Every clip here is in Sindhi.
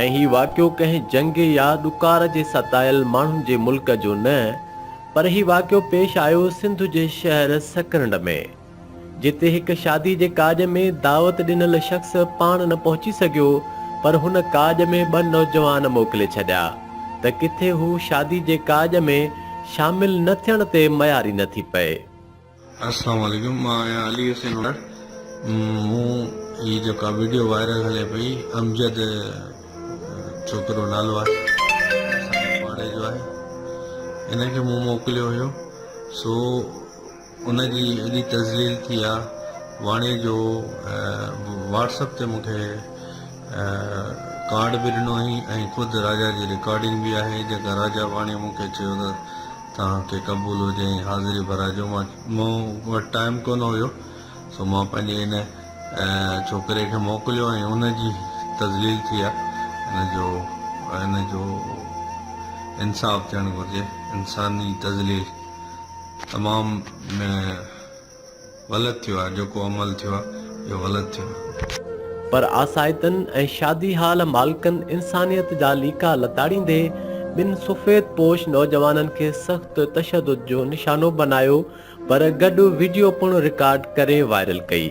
۽ هي واقعو ڪنهن جنگ يا ڏڪار جي ستايل ماڻهن جي ملڪ جو نه، پر هي واقعو پيش آيو سنڌ جي شهر سڪرنڊ ۾، جتي هڪ شادي جي ڪاڄ ۾ دعوت ڏنل شخص پاڻ نه پهچي سگهيو، پر هن ڪاڄ ۾ ٻه نوجوان موڪلي ڇڏيا، ته ڪٿي هو شادي جي ڪاڄ ۾ شامل نه ٿيڻ تي مياري نه ٿي پئي. السلام عليڪم مان آهيان علي حسين اوڏاڙ مون هي جيڪا ويڊيو وائرل هلي پئي امجد ڇوڪرو نالو آهي اسان پاڙي جو آهي ان کي مون موڪليو هيو سو ان جي ايڏي تذليل ٿي آ واڻي جو واٽس اپ تي مون کي ڪارڊ به ڏنو هئي ۽ خود راجا جي رڪارڊنگ به آهي جيڪا راجا واڻي مون کي چيو ته توهان کي قبول هجي ۽ حاضري ڀرائجو. مون وٽ ٽائيم ڪونه هيو سو مان پنهنجي ان ڇوڪري کي موڪليو ۽ ان جي تذليل ٿي آ ان جو ان جو انصاف ٿيڻ گهرجي انساني تذليل تمام غلط ٿيو آ جيڪو عمل ٿيو آ اهو غلط ٿيو آ. پر آسائتن ۽ شادي هال مالڪن انسانيت جا ليڪا لتاڙيندي ٻن سفيد پوش نوجوانن کي سخت تشدد جو نشانو بنايو پر گڏ وڊيو پڻ رڪارڊ ڪري وائرل ڪئي.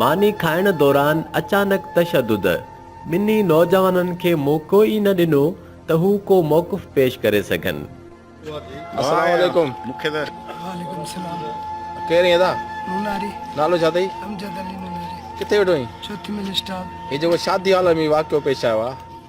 ماني کائڻ دوران اچانڪ تشدد، ٻنهي نوجوانن کي موقعو ئي نه ڏنو ته هو ڪو موقف پيش ڪري سگهن. السلام عليڪم مونکي ته. وعليڪم السلام. ڪير ايئن ادا؟ نوناري. نالو ڇا اٿئي؟ امجد علي نوناري. ڪٿي ويٺو اهين؟ چوٿي ملي اسٽال. هي جيڪو شادي هال ۾ واقعو پيش آيو آ.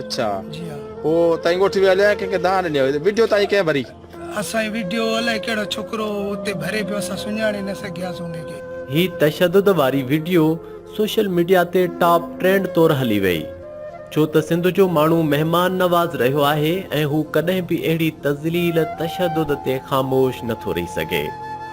اچھا جي ها. پو تائين ڳوٺ ويا هليا يا ڪنهن کي دانهن ڏني هئي ويڊيو تائين ڪنهن ڀري. اسانجي ويڊيو الائي ڪهڙو ڇوڪرو اتي ڀري پيو اسان سڃاڻي نه سگهياس ان کي. هي تشدد واري وڊيو سوشل ميڊيا تي ٽاپ ٽرينڊ طور هلي وئي ڇو ته سنڌ جو ماڻهو مهمان نواز رهيو آهي ۽ هو ڪڏهن به اهڙي تذليل تشدد تي خاموش نٿو رهي سگهي.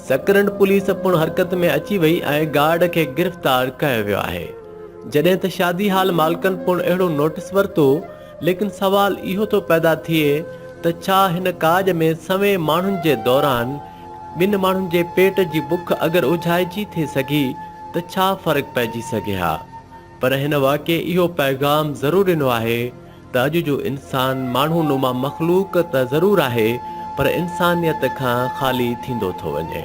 سڪرنڊ پوليس پڻ حرڪت ۾ اچي وئي ۽ گارڊ کي گرفتار ڪيو ويو آهي جڏهن ته شادي هال مالڪن پڻ اهڙو نوٽيس ورتو ليڪن سوال اهو ٿو پيدا ٿئي ته ڇا هن ڪاڄ ۾ سوين ماڻهن جي دوران ٻن ماڻهن جي پيٽ جي بک اگر اجهائجي ٿي سگهي ته ڇا فرق پئجي سگهي ها پر هن واقعي اهو پيغام ضرور ڏنو آهي ته اڄ جو انسان ماڻهو نما مخلوق ته ضرور آهي پر انسانيت کان خالي ٿيندو ٿو وڃي.